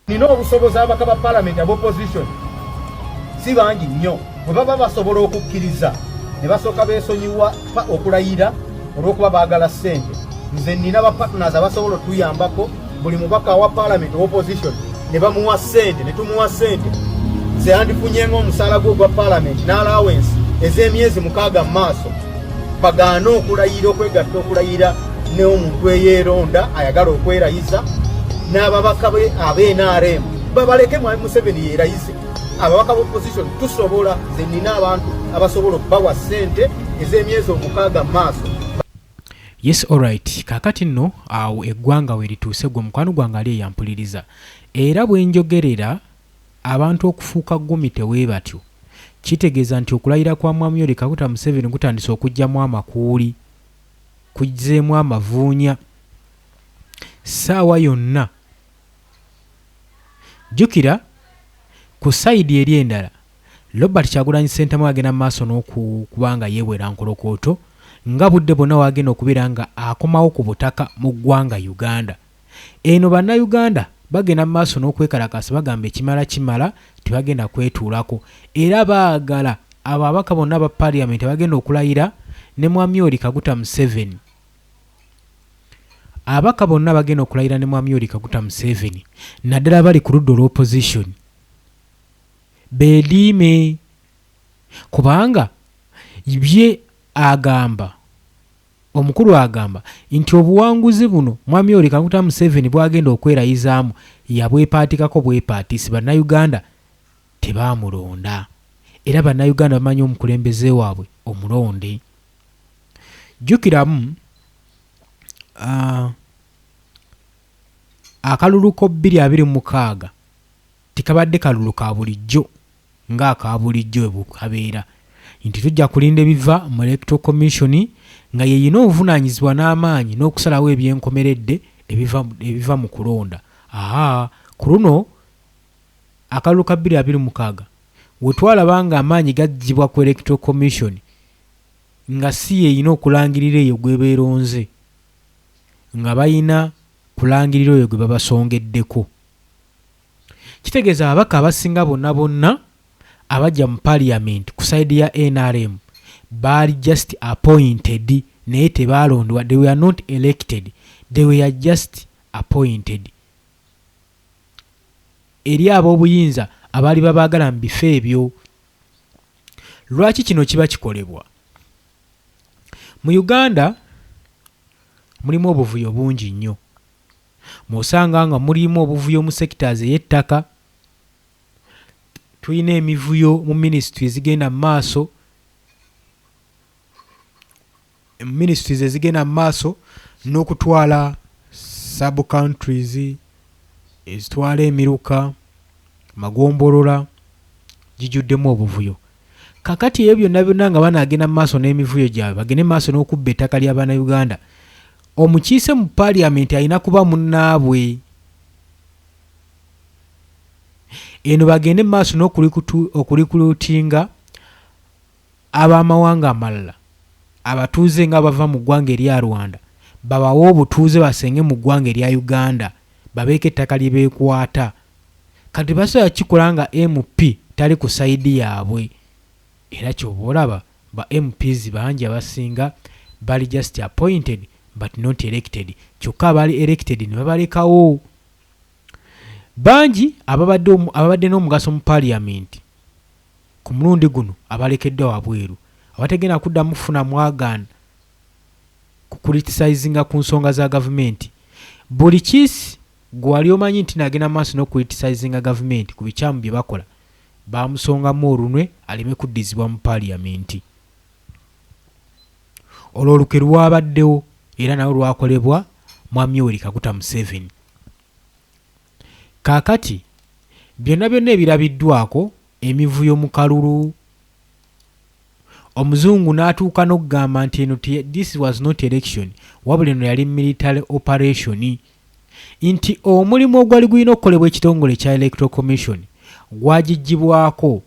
nina obusobozi abaka ba palamenti aba opposition si bangi nnyo bwe baba basobola okukkiriza ne basooka beesonyiwa okulayira olw'okuba baagala ssente nze nina ba partners abasobola otuyambako buli mubaka awa palamenti owa opposition ne bamuwa ssente ne tumuwa ssente nze yandifunyenga omusaala gwe ogwa palamenti n'alawensi ez'emyezi mukaaga mu maaso bagaana okulayira okwegatta okulayira neomuntu eyeeronda ayagala okwerayiza n'ababaka be abnrm babaleke mwami museveni yeerayize ababaka ba opposition tusobola ze nina abantu abasobola okubawa ssente ez'emyezi omukaaga mu maaso yes alright kakati nno awo eggwanga we lituuse gwe mukwano gwange ali eyampuliriza era bwe njogerera Abantu okufuuka ggumite webatyo, kitegeeza nti okulayira kwa Mwami Yoweri Kaguta Museveni kutandise okujjamu amakuuli, kuzzeemu amavuunya ssaawa yonna. Jjukira ku sayidi eri endala, Robert Kyagulanyi Ssentamu agenda mu maaso n'okuba nga yewera nkolokooto nga budde bwonna wagenda okubeera nga akomawo ku butaka mu ggwanga Uganda. Eno bannayuganda bagenda mu maaso n'okwekalakaasa bagamba ekimala kimala tebagenda kwetuulako era baagala ababaka bonna aba parliament abagenda okulayira ne Mwamyori Kaguta Museveni ababaka bonna abagenda okulayira ne Mwamyori Kaguta Museveni naddala abali ku ludda olw'opposition beediime kubanga bye agamba Omukulu agamba nti obuwanguzi buno Mwami Yoweri Kaguta Museveni bwagenda okwerayizaamu yabwepaatikako bwepaatisi Bannayuganda tebaamulonda era Bannayuganda bamanyi omukulembeze waabwe omulonde. Jjukiramu akalulu ko bbiri abiri mu mukaaga tekabadde kalulu ka bulijjo. nga aka bulijjo bwe bukabeera nti tujja kulinda ebiva mu Electoral Commission nga y'erina obuvunaanyizibwa n'amaanyi n'okusalawo eby'enkomeredde ebiva ebiva mu kulonda aa ku luno akalulu ka bbiri abiri mukaaga we twalaba nga amaanyi gaggyibwa ku Electoral Commission nga si y'erina okulangirira eyo gw'eba eronze nga balina kulangirira oyo gwe babasongeddeko. Kitegeeza ababaka abasinga bonna bonna abajja mu parliament ku side ya NRM baali just appointed naye tebaalondebwa they were not elected they were just appointed eri ab'obuyinza abaali babaagala mu bifo ebyo lwaki kino kiba kikolebwa mu uganda mulimu obuvuyo bungi nnyo Mwosanga nga muliimu obuvuyo mu sectors eyettaka, tulina emivuyo mu ministry ezigenda mu maaso, mu ministries ezigenda mu maaso nokutwala sub countries ezitwala emiruka, magombolola gijuddemu obuvuyo. Kakati ebyo byonna byonna nga banaagenda mu maaso n'emivuyo gyabwe bagende mu maaso n'okubba ettaka lya Bannayuganda, omukiise mu Parliament alina kuba munnaabwe. Eno bagende mu maaso n'okulikulutinga ab'amawanga amalala abatuuze nga bava mu ggwanga erya Rwanda babawe obutuuze basenge mu ggwanga erya Uganda babeeko ettaka lye beekwata. Kati tebasobola kukikola nga MP tali ku side yabwe era kyoba olaba ba MPs bangi abasinga bali just appointed but not elected kyokka abaali elected nebabalekawo. Bangi ababadde ababadde n'omugaso mu parliament ku mulundi guno abalekeddwa wabweru abatagenda kuddamu kufuna mwagaan ku criticizinga ku nsonga za gavumenti buli kis Ggwe wali omanyi nti nagenda mu maaso n'okukulitisizinga gavumenti ku bikyamu bye bakola, baamusongamu olunwe aleme kuddizibwa mu Paliyamenti. Olwo olukwe lwabaddewo era nalwo lwakolebwa Mwami Yoweri Kaguta Museveni. Kaakati byonna byonna ebirabiddwaako, emivuyo mu kalulu, Omuzungu n'atuuka n'okugamba nti eno this was not election wabula eno yali military operation nti omulimu ogwali gulina okukolebwa ekitongole ekya Electoral Commission gwagiggyibwako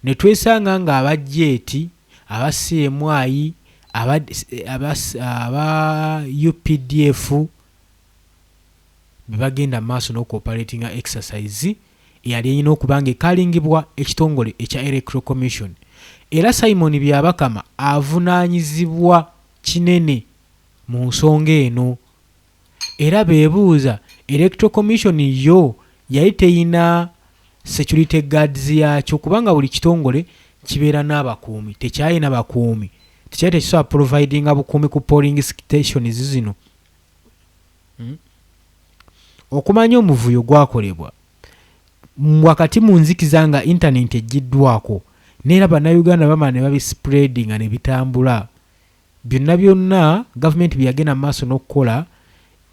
ne twesanga ng'abajja eti aba CMI aba, aba, aba UPDF be bagenda maaso n'okuoperatinga exercise eyali erina okuba ng'ekaalingibwa ekitongole ekya Electoral Commission era Simon Byabakama avunaanyizibwa kinene mu nsonga eno era beebuuza Electoral Commission yo yali terina security guards yaakyo kubanga buli kitongole kibeera n'abakuumi tekyalina bakuumi tekyali tekisobola providinga bukuumi ku polling stations zino. Okumanya omuvuyo gwakolebwa wakati mu nzikiza nga intanenti eggyiddwaako n'era Bannayuganda bamala ne babisipuleedinga ne bitambula byonna byonna Gavumenti bye yagenda mu maaso n'okukola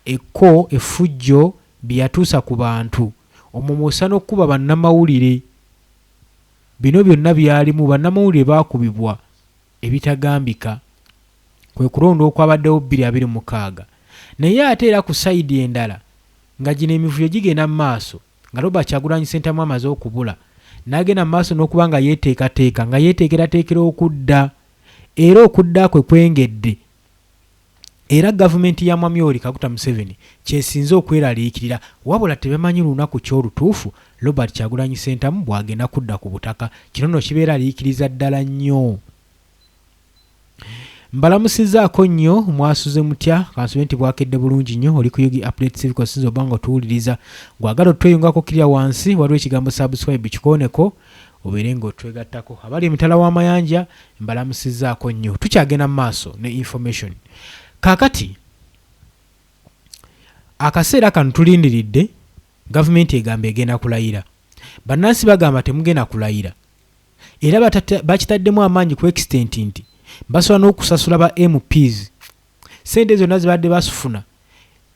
ekko effujjo bye yatuusa ku bantu omwo mw'ossa n'okukuba bannamawulire. Bino byonna byalimu bannamawulire baakubibwa. ebitagambika kwe kulonda okwabaddewo bbiri abiri mukaaga naye ate era ku sayidi endala nga gino emivuyo gigenda mu maaso nga Robert Kyagulanyi Ssentamu amaze okubula n'agenda mu maaso n'okuba nga yeeteekateeka nga yeeteekerateekera okudda era okudda kwe kwengedde era gavumenti ya Mwami Yoweri Kaguta Museveni ky'esinze okweraliikirira wabula tebamanyi lunaku ki olutuufu Robert Kyagulanyi Ssentamu bw'agenda kudda ku butaka. Kino nno kibeeraliikiriza ddala nnyo. Mbalamusizzaako nnyo, mwasuze mutya? Kansube nti bwakedde bulungi nnyo, oli ku Yugi Update Civic osinza oba nga otuwuliriza. Gwagala otweyungako kirya wansi, waliwo ekigambo subscribe kikooneko. obeere nga otwegattako. Abali emitala w'amayanja mbalamusizzaako nnyo. Tukyagenda mu maaso ne information. Kaakati akaseera kano tulindiridde gavumenti egamba egenda kulayira. Bannansi bagamba temugenda kulayira. Era bakitaddemu amaanyi ku extent nti basobola n'okusasula ba MPs. Ssente zonna zibadde basufuna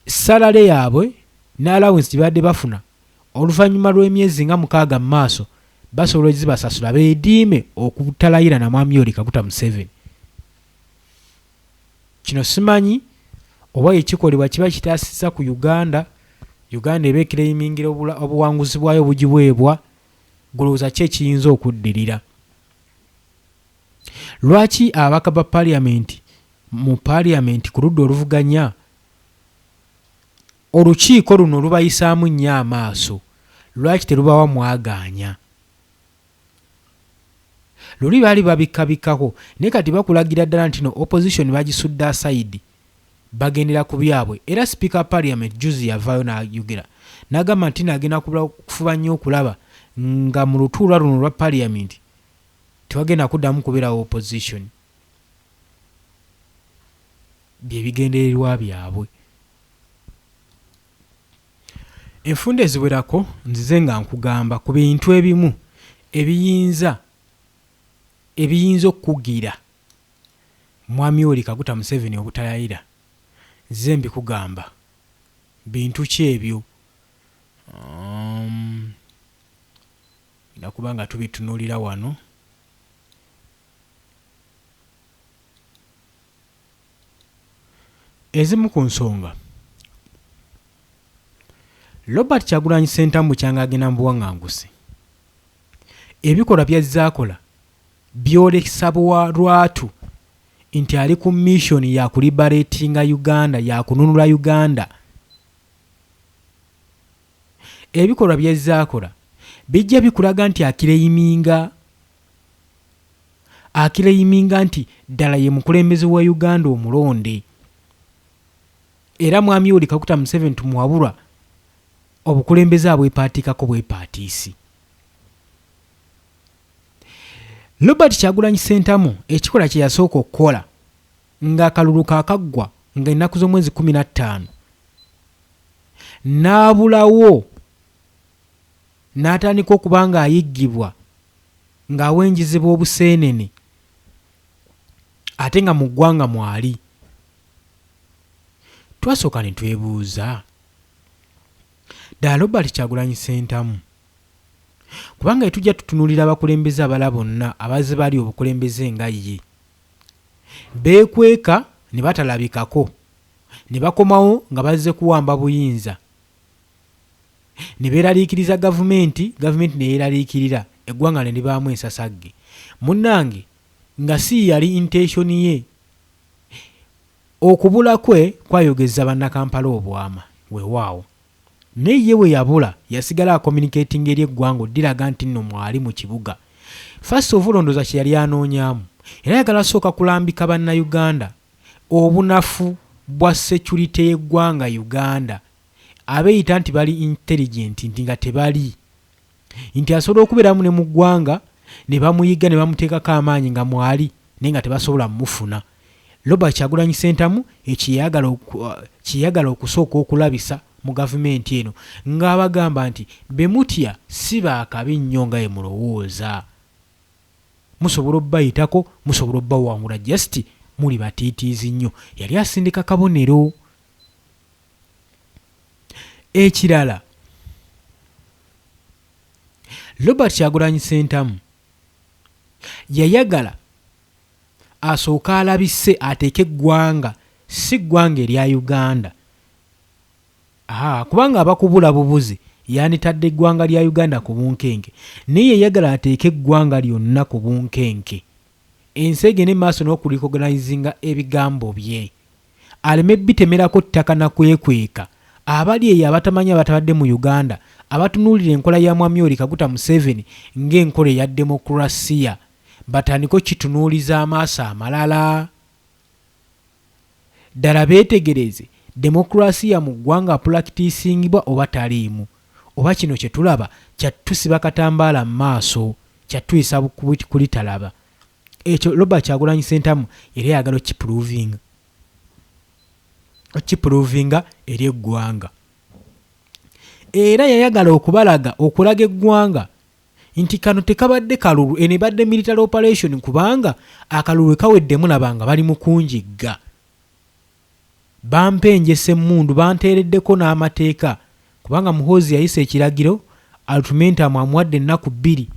salale yaabwe ne allowance gye babadde bafuna oluvannyuma lw'emyezi nga mukaaga mu maaso basobola ozibasasula beediime okutalayira na Mwami Yoweri Kaguta Museveni. Kino simanyi oba ye kikolebwa kiba kitaasizza ku Uganda, Uganda eba ekireyimingira obuwanguzi bwayo bugiweebwa, gulowooza ki ekiyinza okuddirira? Lwaki ababaka ba parliament mu parliament ku ludda oluvuganya Olukiiko luno lubayisaamu nnyo amaaso, lwaki terubawa mwagaanya? Luli baali babikkabikkako naye kati bakulagira ddala ntino opposition bagisudde asayidi bagendera ku byabwe era sipiika wa parliament juzi yavaayo nayogera nagamba ntino agenda kufuba nnyo okulaba nga mu lutuula luno olwa parliament tewagenda kuddamu kubeerawo opposition byebigendererwa byabwe Enfunda eziwerako nzize nga nkugamba ku bintu ebimu ebiyinza ebiyinza okukugira Mwami Yoweri Kaguta Museveni obutayayira. Nzize mbikugamba. Bintu ki ebyo? Um, tulina kuba nga tubitunuulira wano. Ezimu ku nsonga. Robert Kyagulanyi Ssentamu kyanga agenda mu buwang'angusi. Ebikolwa by'azze akola byolesa bwa lwatu nti ali ku mission ya kuliberatinga Uganda, ya kununula Uganda. Ebikolwa by'azze akola bijja bikulaga nti akireyiminga akileyiminga nti ddala ye mukulembeze wa Uganda omulonde era Mwami Yoweri Kaguta Museveni tumuwabulwa obukulembeze abwepaatiikako bwepaatiisi. Robert Kyagulanyi Ssentamu ekikola kye yasooka okukola ng'akalulu kaakaggwa nga ennaku z'omwezi kkumi na ttaano n'abulawo n'atandika okuba ng'ayiggibwa ng'awenjezebwa obuseenene ate nga mu ggwanga mwali. Twasooka ne twebuuza, ddala Robert Kyagulanyi Ssentamu? Kubanga ye tujja tutunuulira abakulembeze abala bonna abazze bali obukulembeze nga ye. Beekweka ne batalabikako ne bakomawo nga bazze kuwamba buyinza. ne beeraliikiriza Gavumenti, Gavumenti ne yeeraliikirira, eggwanga ne libaamu ensasagge. Munnange nga si yali intention ye. Okubula kwe kwayogezza Bannakampala obwama, weewaawo. Naye ye bwe yabula, yasigala acommunicatinga eri eggwanga oddiraga nti nno mwali mu kibuga. First of all ndowooza kye yali anoonyaamu, yali ayagala kusooka kulambika Bannayuganda obunafu bwa security y'eggwanga Uganda. abeyita nti bali intelligent nti nga tebali nti asobola okuberamu ne mugwanga nebamuyigga nebamutekako amaanyi nga mwali naye nga tebasobola mufuna Robert Kyagulanyi Sentamu ekyeyagala kyeyagala okusooka okulabisa mu gavumenti eno nga abagamba nti bemutya si baakabi nnyo nga emulowooza musobola obayitako musobola obawangula just muli batiitiizi nnyo yali asindika kabonero Ekirala Robert Kyagulanyi Ssentamu yayagala asooke alabise ateeke eggwanga si ggwanga erya Uganda kubanga abakubula bubuzi yanditadde eggwanga lya Uganda ku bunkenke naye yayagala ateeke eggwanga lyonna ku bunkenke ensi egende maaso n'okulikoganayizinga ebigambo bye. aleme bitemerako ttaka na kwekweka abali eyo abatamanyi abatabadde mu Uganda abatunuulira enkola ya Mwami Yoweri Kaguta Museveni ng'enkola eya demokulasiya batandike okukitunuuliza amaaso amalala ddala beetegereze demokulasiya mu ggwanga apulakitiisingibwa oba taliimu oba kino kye tulaba kyattusiba katambaala mu maaso kyattuyisa kulitalaba. ekyo Robert Kyagulanyi Sentamu yali ayagala okipuluvinga okipuluvinga eri eggwanga era yayagala okubalaga okulaga eggwanga nti kano tekabadde kalulu eno ebadde military operation kubanga akalulu wekaweddemu labanga bali mukunjigga Bampenjesa emmundu banteereddeko n'amateeka kubanga Muhoozi yayisa ekiragiro Altumentamu amuwadde ennaku bbiri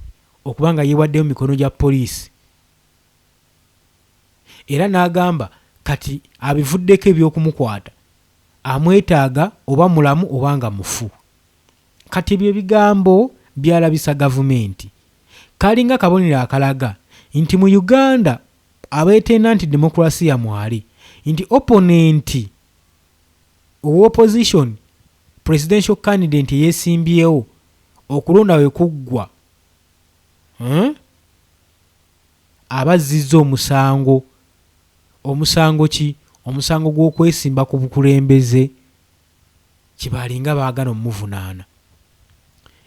okuba nga yeewaddeyo mu mikono gya poliisi era n'agamba kati abivuddeko eby'okumukwata amwetaaga oba mulamu oba nga mufu. Kati ebyo ebigambo byalabisa Gavumenti. Kaalinga kabonero akalaga nti mu Uganda abeetenda nti demokulasiya mwali nti opponent owa opposition presidential candidate eyesimbyewo okulonda we kuggwa huh aba azzizza omusango, omusango ki? Omusango gw'okwesimba ku bukulembeze kye baalinga baagana omuvunaana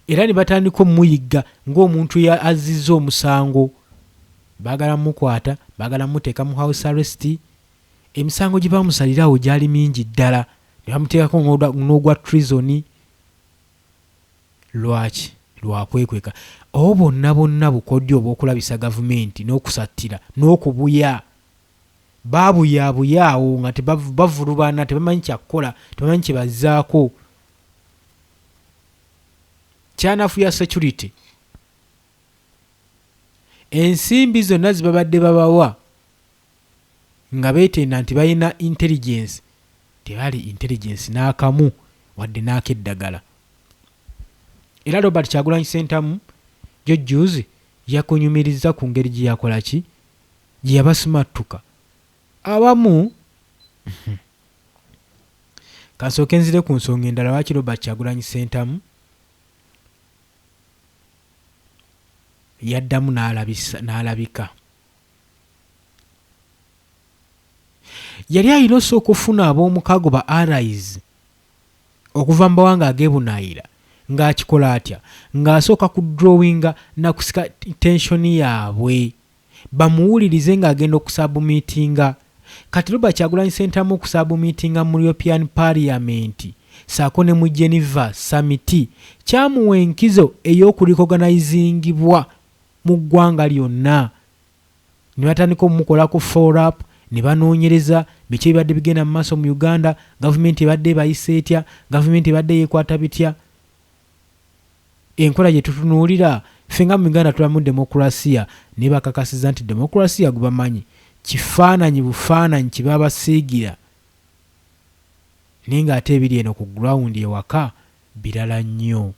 era ne batandika omuyigga ng'omuntu azzizza omusango baagala mukwata baagala muteeka mu house arrest emisango gye baamusalirawo gyali mingi ddala ne bamuteekako n'ogwa trizoni lwaki lwakwekweka obo bonna bonna bukodyo obw'okulabisa gavumenti n'okusattira n'okubuya babuyabuya awo nga bavulubana tebamanyi kyakukola tebamanyi kyebazzaako kyanafuya security ensimbi zonna zibabadde babawa nga beetenda nti balina intelligence tebali intelligence n'akamu wadde n'akeddagala era robert kyagulanyi sentamu jojjuzi yakunyumirizza ku ngeri gye yakola ki gye yabasimattuka abamu kansooke nzire ku nsonga endala lwaki robert kyagulanyi sentamu yaddamu n'alabika yali alina osooka okufuna ab'omukago ba arise okuva mu bawanga agebunaayira ng'akikola atya ng'asooka ku drawinga nakusika tensioni yaabwe bamuwulirize ng'agenda okusabumiitinga Kati Robert Kyagulanyi Ssentamu okusabumiitinga mu European Parliament ssaako ne mu Geneva Summit kyamuwa enkizo ey'okurikoganayizingibwa mu ggwanga lyonna ne batandika omukolako Follow-up ne banoonyereza biki ebibadde bigenda mu maaso mu Uganda, gavumenti ebadde ebayisa etya, gavumenti ebadde yeekwata bitya. Enkola gye tutunuulira, Ffe nga mu Uganda tulamu demokulasiya naye bakakasiza nti demokulasiya gubamanyi kifaananyi bufaananyi kye babasiigira naye ng'ate ebiri eno ku ground ewaka birala nnyo.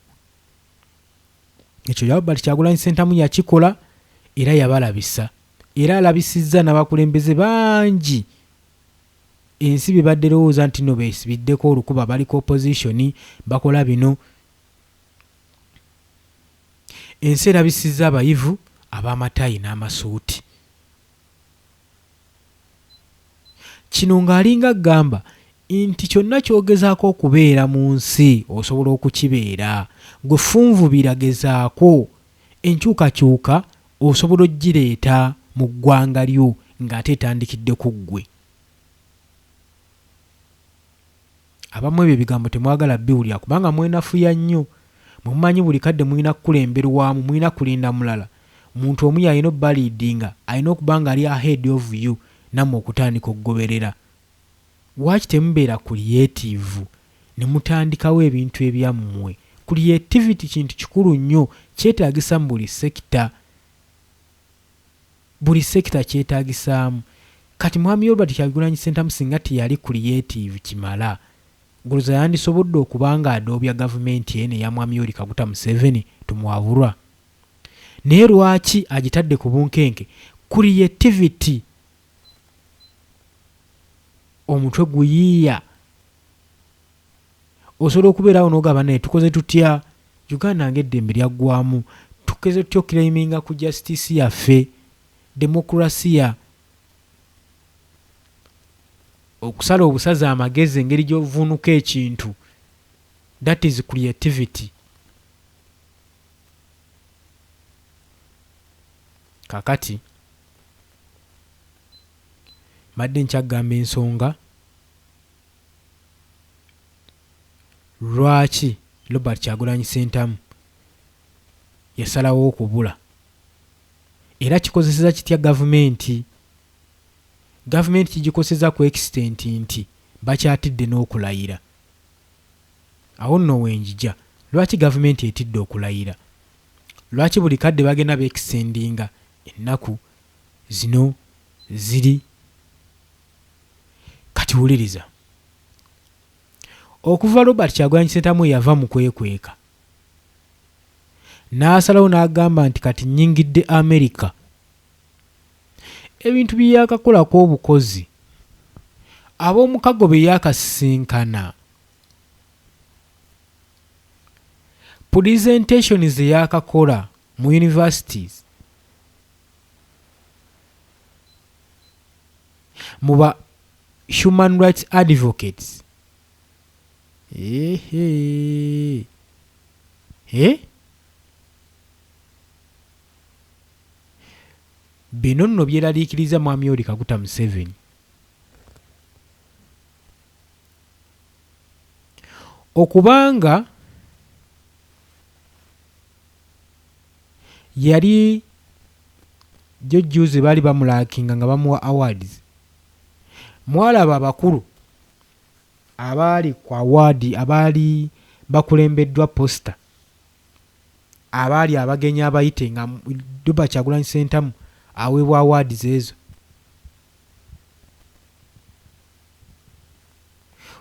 Ekyo Albert Kyagulanyi Ssentamu yakikola era yabalabisa era alabisizza n'abakulembeze bangi. Ensi bebadde lowooza nti no besibiddeko olukuba bali ku opposition bakola bino Ensi erabisizza abayivu abamatayi namasuuti. Kino nga alinga agamba nti kyonna kyogezaako okubeera munsi osobola okukibeera. Gwe funvubira gezaako enkyukakyuka Osobola ogireeta mu ggwanga lyo ng'ate etandikidde ku ggwe. Abamu ebyo ebigambo temwagala biwulira kubanga mwenafuya nnyo. Mwe mumanyi buli kadde mulina kukulemberwamu, mulina kulinda mulala. Muntu omu y'alina obbaliidinga, alina okuba ng'ali ahead of you nammwe okutandika okugoberera. Lwaki temubeera kuliyetiivu ne mutandikawo ebintu ebyammwe? Kuliyetiviti kintu kikulu nnyo, kyetaagisa mu buli sekita. Buli sekita kyetaagisaamu. Kati Mwami Robert Kyagulanyi Ssentamu singa teyali kuliyetiivu kimala, Guluza yandisobodde okuba ng'adoobya gavumenti eno eya Mwami Yoweri Kaguta Museveni, Tumuwaburwa? Naye lwaki agitadde ku bunkenke? Kuliyetiviti! omutwe guyiiya osobola okubeerawo n'ogamba naye tukoze tutya uganda ng'eddembe lyaggwamu tukeze tutya okukiraiminga ku jasitisi yaffe demokurasiya okusala obusaza amagezi engeri gy'ovuunuka ekintu that is creativity kakati Mbadde nkyagamba ensonga lwaki Robert Kyagulanyi Ssentamu yasalawo okubula era kikozeseza kitya gavumenti. Gavumenti kigikoseza ku extent nti bakyatidde n'okulayira. Awo nno wenjija. Lwaki gavumenti etidde okulayira? Lwaki buli kadde bagenda be extendinga Ennaku zino ziri Kati wuliriza. Okuva Robert Kyagulanyi Ssentamu weyava mu kwekweka n'asalawo n'agamba nti kati nnyingidde America, ebintu bye yaakakolako obukozi ab'omukago be yaakasisinkana, pulizentationi ze yaakakola, Mu universities, mu ba human rights advocates, eehee, eh? Bino nno byeraliikiriza Mwami Yoweri Kaguta Museveni. Okubanga. yali jo juzi bali bamulakinga nga bamuwa awards mwalaba abakulu abaali ku award abaali bakulembeddwa poster abaali abagenyi abayite nga Duba Kyagulanyi Sentamu aweebwa awards ezo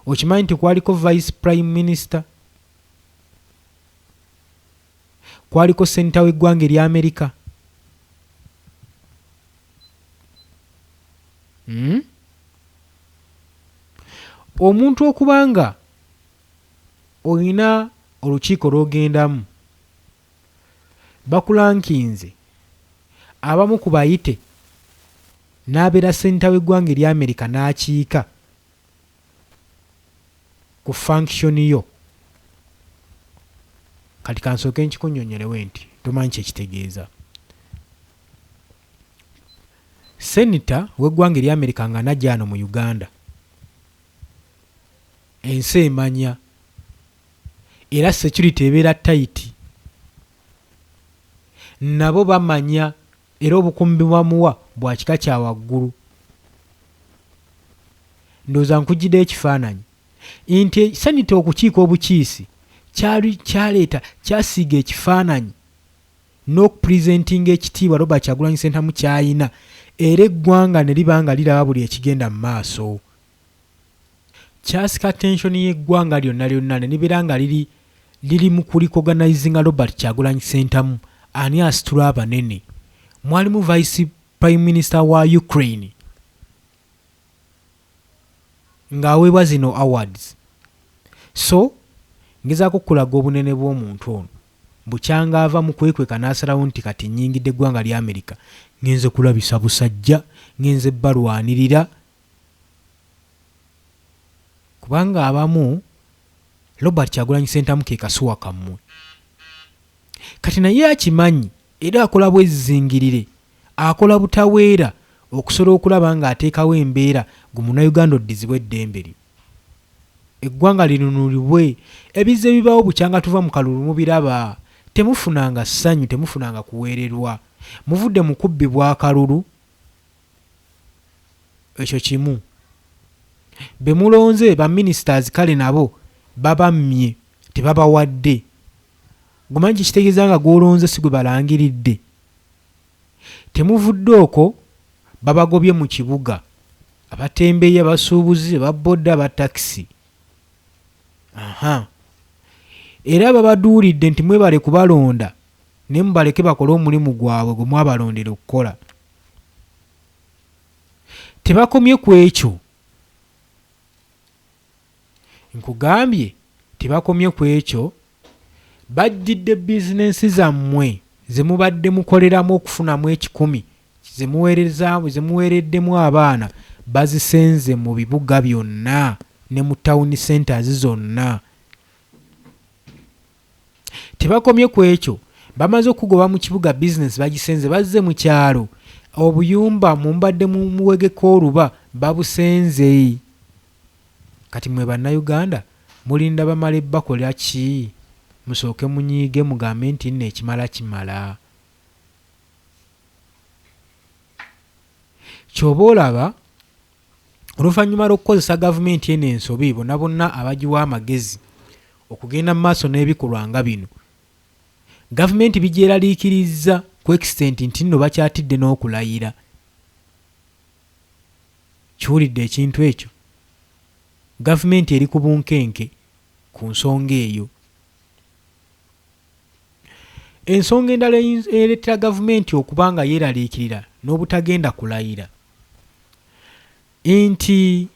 okimanyi nti kwaliko vice prime minister kwaliko Ssenita w'eggwanga erya Amerika hmm? omuntu okuba nga olina olukiiko lw'ogendamu bakulankinze abamu ku bayite n'abeera senta w'eggwanga erya amerika n'akiika ku function yo kati kansooke nkikunyonyolewe nti tomanyi kyekitegeeza senita wegwanga erya america nga najano mu uganda ensi emanya era security ebeera tayiti nabo bamanya Era obukuumi bwe bamuwa bwa kika kya waggulu. Ndowooza nkuggyideyo ekifaananyi nti ekisanidde okukiika obukiisi kyali kyaleeta kyasiiga ekifaananyi n'okupresentinga ekitiibwa Robert Kyagulanyi Ssentamu ky'alina era eggwanga ne liba nga liraba buli ekigenda mu maaso. kyasika attention y'eggwanga lyonna lyonna ne libeera nga liri liri mu kulikoganayizinga Robert Kyagulanyi Ssentamu ani asitula abanene mwalimu vice prime minister wa Ukraine ng'aweebwa zino awards so ngezaako okukulaga obunene bw'omuntu ono bukyanga ava mu kwekweka n'asalawo nti kati nnyingidde eggwanga lya amerika ngenze kulabisa busajja ngenze balwanirira kubanga abamu Robert Kyagulanyi Sentamu ke kasuwa kammwe kati naye akimanyi era akola bwezizingirire akola butaweera okusola okulaba nga ateekawo embeera gu munayuganda oddizibwa eddembe lyo eggwanga linunulibwe ebizze bibaawo bukyanga tuva mu kalulu mubiraba temufunanga ssanyu temufunanga kuweererwa muvudde mu kubbibwa akalulu ekyo kimu bemulonze ba ministers kale nabo babammye tebabawadde gumanyi kyekitegeeza nga gwolonze si gwe balangiridde temuvudde okwo babagobye mu kibuga abatembeyi abasuubuzi ababodda aba takisi aha era babaduulidde nti mwebale kubalonda naye mubaleke bakole omulimu gwabwe gwe mwabalondera okukola tebakomye ku ekyo nkugambye tebakomye ku ekyo bajjidde bizinensi zammwe ze mubadde mukoleramu okufunamu ekikumi zemuweereddemu abaana bazisenze mu bibuga byonna ne mu tawuni centers zonna. Tebakomye ku ekyo, bamaze okukugoba mu kibuga bizinensi bagisenze bazze mu kyalo, obuyumba mwe mubadde muwegeka oluba babusenze kati mwe Bannayuganda mulinda bamale bakola ki? Musooke munyiige mugambe nti nno ekimala kimala. Ky'oba olaba. oluvannyuma lw'okukozesa gavumenti eno ensobi bona bonna abagiwa amagezi okugenda mu maaso n'ebikolwa nga bino gavumenti bigyeraliikirizza ku ekisitenti nti nno bakyatidde n'okulayira kiwulidde ekintu ekyo gavumenti eri ku bunkenke ku nsonga eyo Ensonga endala ereetera gavumenti okuba nga yeeraliikirira n'obutagenda kulayira nti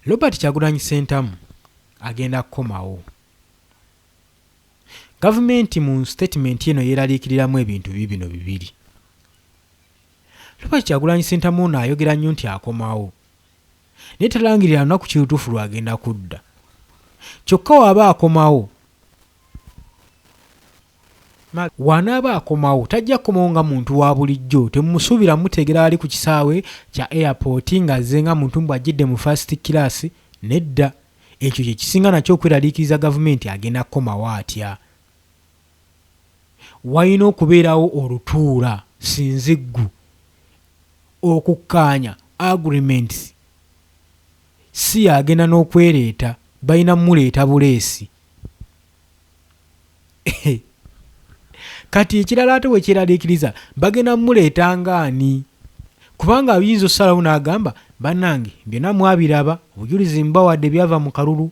Robert Kyagulanyi Ssentamu agenda kukomawo. Gavumenti mu sitatimenti eno yeeraliikiriramu ebintu bibino bibiri. Robert Kyagulanyi Ssentamu ono ayogera nnyo nti akomawo. naye talangirira lunaku ki lutuufu lw'agenda kudda. Kyokka w'aba akomawo, w'anaaba akomawo tajja kukomawo nga muntu wa bulijjo. Temumusuubira muteegera wali ku kisaawe kya Airport ng'azze nga muntu mbu ajjidde mu first class, nedda. Ekyo kye kisinga nakyo okweraliikiriza Gavumenti agenda kukomawo atya? walina okubeerawo olutuula sinziggu okukkaanya, agreements, si y'agenda n'okwereeta, balina kumuleeta buleesi. Kati ekirala ate bwe kyeraliikiriza bagenda kumuleeta ng'ani? Kubanga ayinza okusalawo n'agamba bannange byonna mwabiraba obujulizi mbawadde byava mu kalulu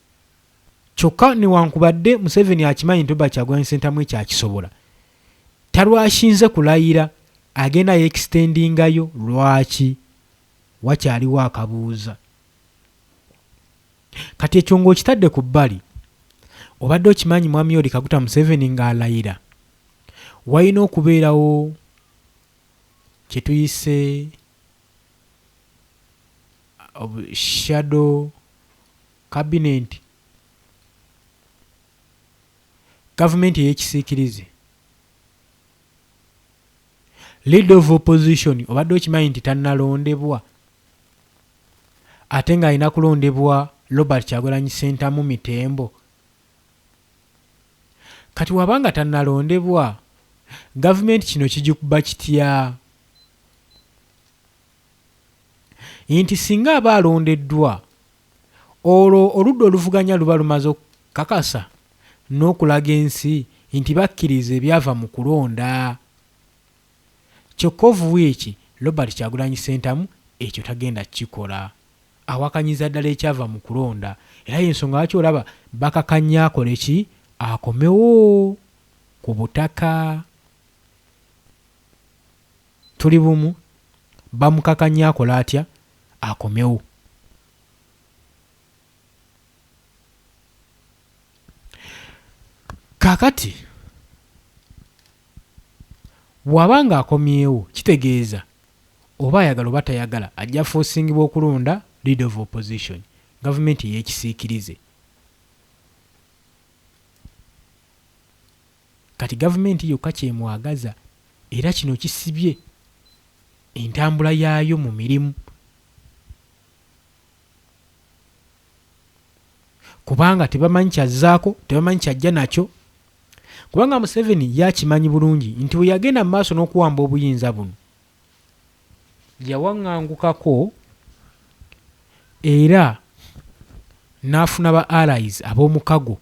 kyokka newankubadde Museveni akimanyi nti Robert Kyagulanyi Ssentamu ekyo akisobola talwashinze kulayira agenda yekisitendingayo lwaki wakyaliwo akabuuza kati ekyo ng'okitadde ku bbali obadde okimanyi mwami oli kaguta museveni ng'alayira walina okubeerawo kye tuyise of shadow cabinet, gavumenti eyekisiikirize. Leader of opposition obadde okimanyi nti tannalondebwa ate ng'alina kulondebwa Robert Kyagulanyi Ssentamu Mitembo. Kati waba nga tannalondebwa gavumenti kino kigikuba kitya? nti singa aba alondeddwa, olwo oludda oluvuganya luba lumaze okukakasa n'okulaga ensi nti bakkiriza ebyava mu kulonda. Kyokka Ovuwiiki Robert Kyagulanyi Ssentamu ekyo tagenda kukikola. Awakanyiza ddala ekyava mu kulonda era y'ensonga lwaki olaba bakakanya akole ki akomewo ku butaka. Tuli bumu bamukakanye akole atya akomewo. Kakati bwaba nga akomyewo kitegeeza oba ayagala oba tayagala ajja fosingibwa okulonda leader of opposition gavumenti eyekisiikirize. Kati gavumenti yokka ky'emwagaza era kino kisibye entambula yaayo mu mirimu kubanga tebamanyi kyazzaako, tebamanyi kyajja nakyo kubanga Museveni ye akimanyi bulungi nti bwe yagenda mu maaso n'okuwamba obuyinza buno yawangangukako era n'afuna ba allies ab'omukago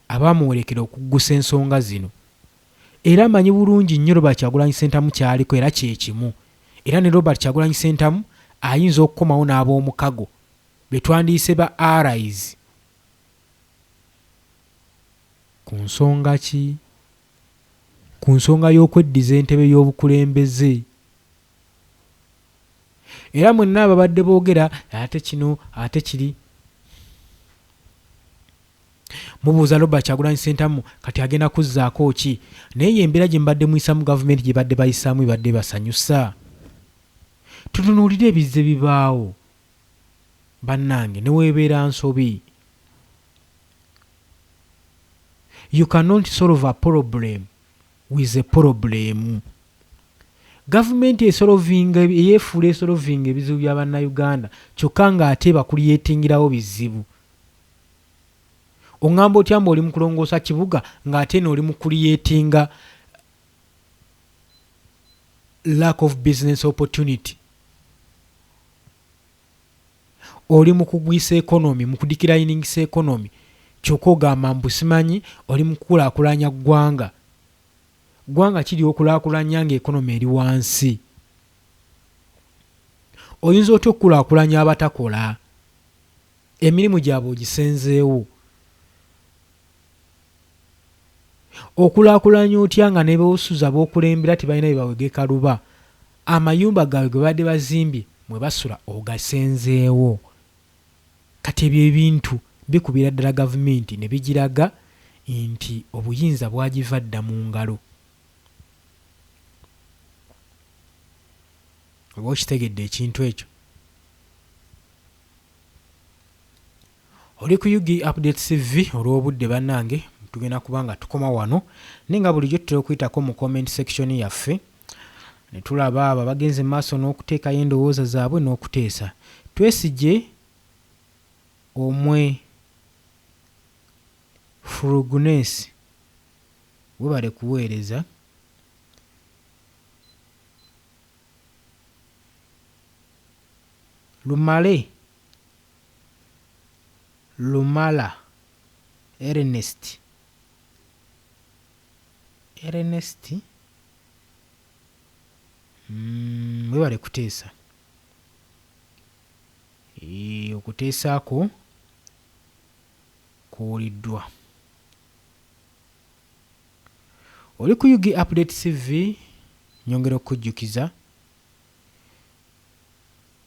abaamuwerekera okuggusa ensonga zino era amanyi bulungi nnyo Robert Kyagulanyi Ssentamu ky'aliko era kye kimu era ne Robert Kyagulanyi Ssentamu ayinza okukomawo n'aboomukago be twandiyise ba allies ku nsonga ki? Ku nsonga y'okweddiza entebe y'obukulembeze Era mwenna ababadde boogera ate kino ate kiri, mubuuza Robert Kyagulanyi Ssentamu kati agenda kuzzaako ki? Naye eyo embeera gye mubadde muyisaamu gavumenti gye badde bayisaamu ebadde ebasanyusa? Tutunuulire ebizze bibaawo bannange ne weebeera nsobi. You cannot solve a problem. with a problem gavumenti esolovinga eyefuula esolovinga ebizibu bya bannayuganda kyokka nga ate bakuliyetingirawo bizibu oŋŋamba otya mbu oli mu kulongoosa kibuga ng'ate no oli mu kuliyetinga lack of business opportunity Oli mukugwisa economy, mukudikirainingisa economy kyoka ogamba mbu simanyi oli mukukulakulanya gwanga. Gwanga ki lyokulakulanya nga economy eri wansi? Oyinza otya okukulakulanya abatakola? Emirimu gyabwe ogisenzeewo? Okulaakulanya otya nga ne b'osuza b'okulembera tebalina bye bawegeka luba, amayumba gaabwe ge babadde bazimbye mwe basula ogasenzeewo? Kati ebyo ebintu bikubira ddala Gavumenti ne bigiraga nti obuyinza bwagiva dda mu ngalo. Oba okitegedde ekintu ekyo? Oli ku Ug updates TV olwobudde banange tugenda kuba nga tukoma wano naye nga bulijjo tutera okuyitako mu comment section yaffe netulaba abo abagenze mu maaso n'okuteekayo endowooza zaabwe n'okuteesa twesigye omwe frugness webale kuweereza lumale Lumala Ernest, Ernest, mm, webale kuteesa e, okuteesa kwo kuwuliddwa. Oli ku UG Update TV nyongera okujjukiza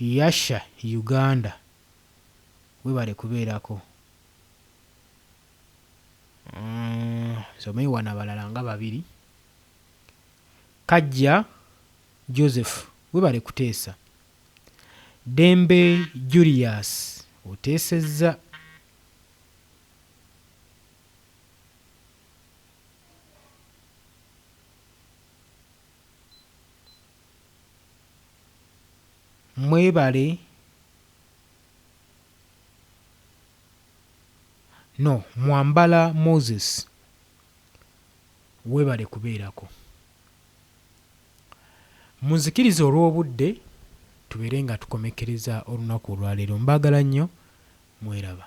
Yasha Uganda webale kubeerako uhmm nsomeyo wano abalala nga babiri Kajja Joseph webale kuteesa Ddembe Julius oteesezza. Mwebale no mwambala Moses webale kubeerako. Munzikirize olw'obudde tubeere nga tukomekkereza olunaku olwaleero. Mbaagala nnyo. Mweraba.